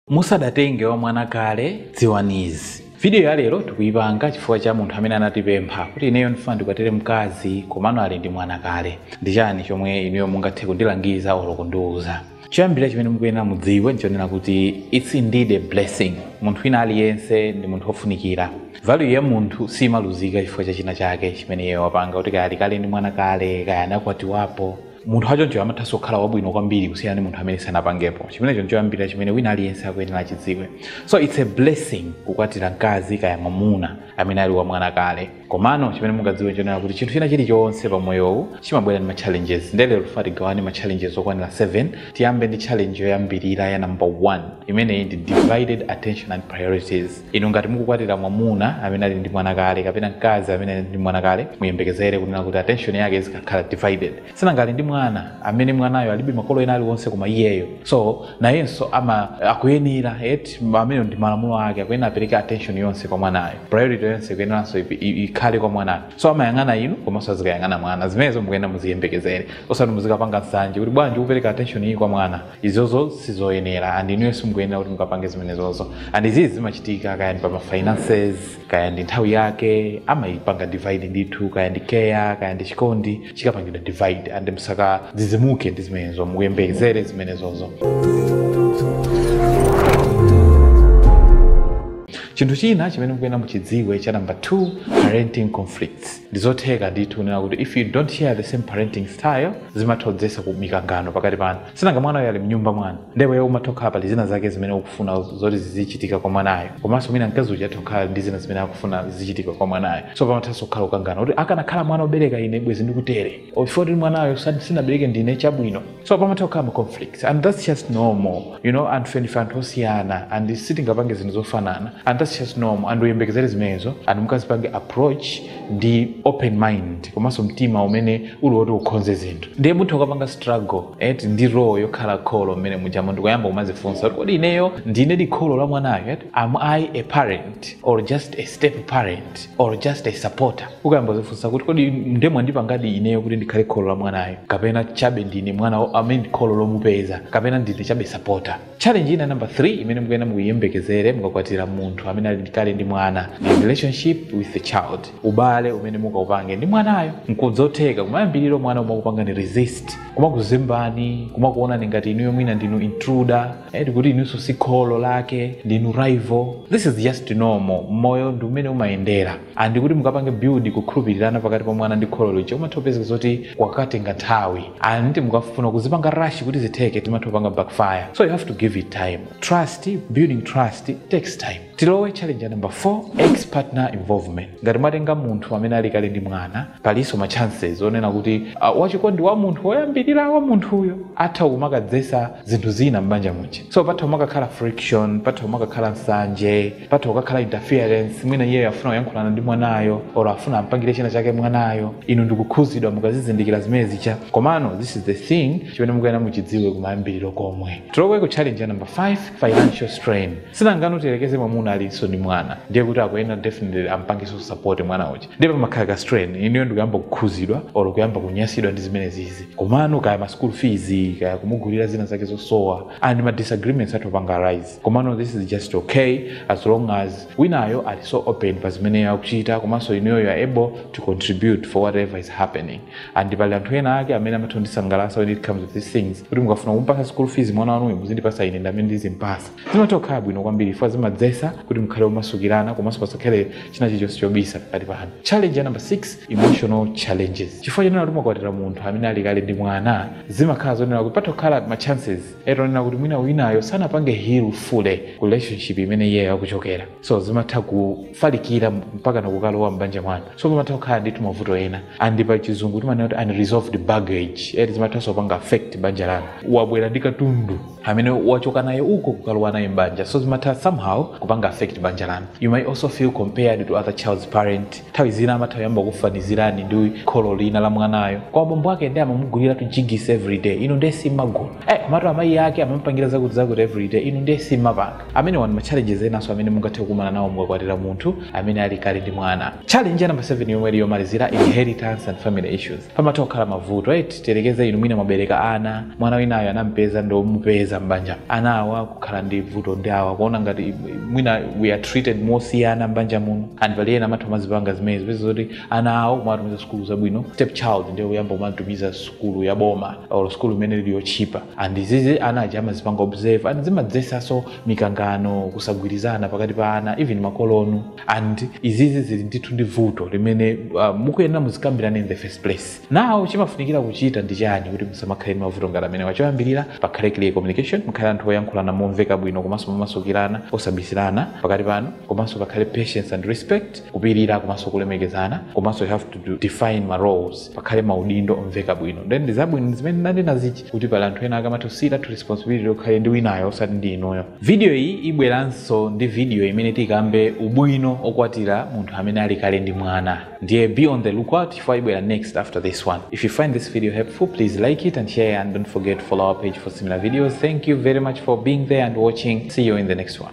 Musadatenge wa mwana kale, dziwani izi. Video ya lero tikuyipanga chifukwa cha munthu amene anatipempha kuti ineyo ndifuna ndikwatire mkazi komano ali ndi mwana kale. Ndi chani chomwe inuyo mungathe kundilangiza olo kundiuza? Choyambirira chimene mukuyenera mudziwe ndichonena kuti it's indeed a blessing. Munthu wina aliyense ndi munthu wofunikira. Value ya munthu simaluzika chifukwa cha china chake chimene iyeyo wapanga kuti kaya ali kale ndi mwana kale, kaya anakwatiwapo. munthu wachoncho amathanso kukhala wabwino kwambiri kusiyana ndi munthu amene sanapangepo chimenecho nchoyambirira chimene wina aliyense akuyenera achidziwe so its a blessing kukwatira mkazi kaya mwamuna amene ali wamwana kale komano chimene mungadziwe nchonena kuti chinthu china chilichonse pa moyowu chimabwera ndi ma challenges nde lero tifuna tigawane ma challenges okwanira 7 tiyambe ndi challenge yoyambirira ya number 1 imeneyi ndi divided attention and priorities Inu ngati mukukwatira mwamuna amene ali ndi mwana kale kapena mkazi amene ali ndi mwana kale, muyembekezere kunena kuti attention yake izikakhala divided. Si nanga ali ndi mwana amene mwanayo alibe makolo ena aliwonse koma iyeyo. So, nayenso ama akuyenera eti amenewo ndi malamulo ake akuyenera apereke attention yonse kwa mwanayo. Priority yonse ikuyeneranso ip- i- ikhale kwa mwanayo. So amayang'ana inu komanso azikayang'ana mwana. Zimenezo mukuyenera muziyembekezere. Osati muzikapanga nsanje kuti bwanji ukupereka attention iyi kwa mwana. izozo sizoyenera and inuyo simukuyenera kuti mukapange zimenezozo and izizi zimachitika kaya ndi pa mafinances kaya ndi nthawi yake amayipanga divide ndithu kaya ndi care kaya ndi chikondi chikapangidwa divide and musakadzidzimuke ndi zimenezo muyembekezere zimenezozo chinthu china chimene mukuyenera muchidziwe cha namba 2 parenting conflicts ndizotheka ndithu kunena kuti if you don't share the same parenting style zimatha kudzetsa ku mikangano pakati panu si nanga mwana uyo ali mnyumba mwanu ndipo iwe umatha kukhala pali zina zake zimene ukufuna zoti zizichitika kwa mwanayo komanso mwina mkazi uja atha kukhala ndi zina zimene akufuna zizichitika kwa mwanayo so pamathanso kukhala kukangana kuti akanakhala mwana obereka ine bwezi ndikutere chifukwa choti mwanayo sa- sinabereke ndine chabwino so pamatha kukhala ma conflicts and that's just normal you know anthufe ndife anthu osiyana and sitingapange zinthu zofanana and that's just normal and uyembekezere zimenezo and mukazipange approach ndi open mind komanso mtima umene uli woti ukhonze zinthu ndiye mutha kukapanga struggle eti ndi role yokhala kholo mmene mujamo ndikuyamba kumazifunsa kuti kodi ineyo ndinedi kholo la mwanayo eti am i a parent or just a step parent or just a supporter ukayamba kudzifunsa kuti kodi nde mwandipangadi ineyo kuti ndikhale kholo la mwanayo kapena chabe ndine mwana wa- amene ndi kholo lomupeza kapena ndine chabe sapota challenge ina number 3 imene mukuyenera muyembekezere mukakwatira munthu amene ali kale ndi mwana ndi relationship with the child ubale umene mukaupange ndi mwanayo nkuzotheka kumayambiriro mwana kumakupangani resist kumakuzembani kumakuonani ngati inuyo mwina ndinu intruder eti kuti inunso si kholo lake ndinu rival this is just normal moyo ndi mmene umayendera and kuti mukapange build kukhulupirirana pakati pa mwana ndi kholo lija umatha kupezeka zoti kwakatenga nthawi and mukafuna kuzipanga rush kuti zitheke zimatha kupanga backfire so you have to give it time trust building trust takes time tilowe challenge ya number 4 ex partner involvement ngati mwatenga munthu amene ali kale ndi mwana palinso ma chances onena kuti uh, wachikondi wa munthu woyambirira wa munthuyo atha kumakadzetsa zinthu zina m'banja muja so patha kumakakhala friction patha kumakakhala nsanje patha kukakhala interference mwina iyeyo afuna kuyankhulana ndi mwanayo or afuna ampangire china chake mwanayo inu ndikukhuzidwa mukazizindikira zimenezi ija komano this is the thing chimene mukuyenera muchidziwe kumayambiriro komwe tilowe ku challenge ya number 5 financial strain si nanga tiyerekeze mwamuna alinso ndi mwana ndiye kuti akuyenera definitely ampangenso support mwana uja ndiye pamakhala ka strain inuyo ndikuyamba kukhuzidwa or kuyamba kunyasidwa ndi zimenezizi komano kaya ma school fees kaya kumugulira zina zake zosowa and ma disagreements atha kupanga rise komano this is just okay as long as winayo ali so open pa zimene akuchita komanso inuyo you are able to contribute for whatever is happening and pali anthu ena ake amene amatha kundisangalatsa when it comes to these things kuti mukafuna kumpatsa school fees mwana wanuyo muzindipatsa ine ndamene ndizimpatsa zimatha kukhala bwino kwambiri chifukwa zimadzetsa kuti mukhale omasukirana komanso pasakhale china chilichonse chobisa pakati panu challenge ya number 6 emotional challenges chifukwa chonena kuti mwakwatira munthu amene ali kale ndi mwana zimakhala zonena kuti patha kukhala ma chances eti onena kuti mwina winayo sanapange heal fully ku relationship imene iyeyo akuchokera so zimatha kufalikira mpaka nakukalowa m'banja mwanu so pamatha kukhala ndithu mavuto ena and pa chizungu timanena kuti unresolved baggage eti zimathanso kupanga affect banja lanu wabwera ndi katundu amene wachoka naye uko kukalowa naye m'banja so zimatha somehow kupanga affect banja lanu you may also feel compared to other child's parent Nthawi zina amatha kuyamba kukufanizirani ndi kholo lina la mwanayo. Koma bambo ake ndiye amamuguliratu Jiggies everyday, inu ndiye simumagula. Eh, komatu amayi ake amamupangira zakutizakuti everyday, inu ndiye simumapanga. Amenewa ndi ma challenges enanso amene mungathe kukumana nawo mukakwatira munthu amene ali kale ndi mwana. Challenge ya number 7 yomwe ili yomalizira, inheritance and family issues. pamatha kukhala mavuto eti tiyerekeze inu mwina mwabereka ana mwana winayo anampeza ndi omupeza m'banja ana awa kukhala ndi vuto ndi awa kuona ngati mwina we are treated mosiyana m'banja muno and pali ena amatha kumazipanga zimenezi kupeza zoti ana awo kumawatumiza sukulu zabwino step child ndiye kuyamba kumamutumiza sukulu ya boma or sukulu imene ili yotchipa and izizi ana aja amazipanga observe and zimadzetsanso mikangano kusagwirizana pakati pa ana even makolonu and izizi zili ndithu ndi vuto limene uh, mukuyenera muzikambirane in the first place now chimafunikira kuchita ndi chani kuti musamakhale ndi mavuto ngati amenewa choyambirira pakhale clear communication mukhale anthu oyankhulana momveka bwino komanso momasukirana osabisirana pakati panu komanso pakhale patience and respect kupirira komanso kulemekezana komanso you have to do, define ma roles pakhale maudindo omveka bwino then ndi zabwino zimene ndinanena zija kuti pali anthu ena akamatha usiya that responsibility ikhale ndi winayo osati ndi inuyo vidiyo iyi ibweranso ndi vidiyo imene tikambe ubwino okwatira munthu amene ali kale ndi mwana ndiye be on the lookout chifukwa ibwera next after this one if you find this video helpful please like it and share and don't forget to follow our page for similar videos thank you very much for being there and watching see you in the next one